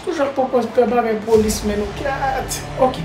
Pou jan konpòz pè bagay polis men nou kyat ok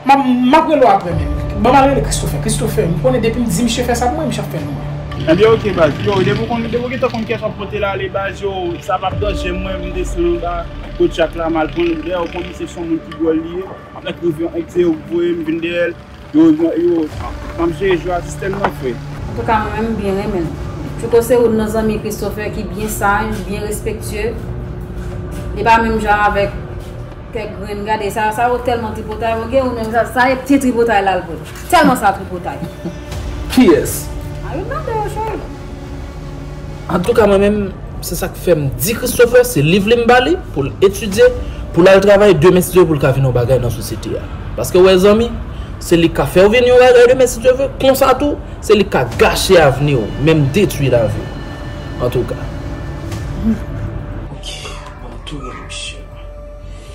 map map rele w aprè men ban mal rele Christopher Christopher m konnen depi m di misye fè sa pou mwen misye ap fè l pou mwen. Ebyen ok baz yo depi w konn depi w gentan konn kiyès wap pote l ale baz yo sa pap danje mwen vin desann anba kot jak la mal pran l dèyè w konn misye son moun ki dwòl li ye map met rive ank diye w voye m vin dèyè l. Yo yo Map jere jwe a sistèm nan fre. Antouka mwen menm m byen renmen l. Fouco se youn nan zanmi Christopher ki byen saj, byen respektye. Li pa menm jan avèk kèk grenn gade sa yo, sa yo tèlman tripotay bon gen youn menm sa sa e pye tripotay la l pran. Tèlman sa tripotay. Kiyès? An youn nan de yo cheri. Antouka mwen menm se sak fèm di Christopher se liv li m ba li poul etidye poul al travay demen si Dye vle poul ka vin yon bagay nan sosyete a paske ou wè zanmi se li k ka fèw vin yon bagay demen si Dye vle konsa tou se li k ka gache avniw menm detwi laviw antouka. Ok mwen tou gen misye.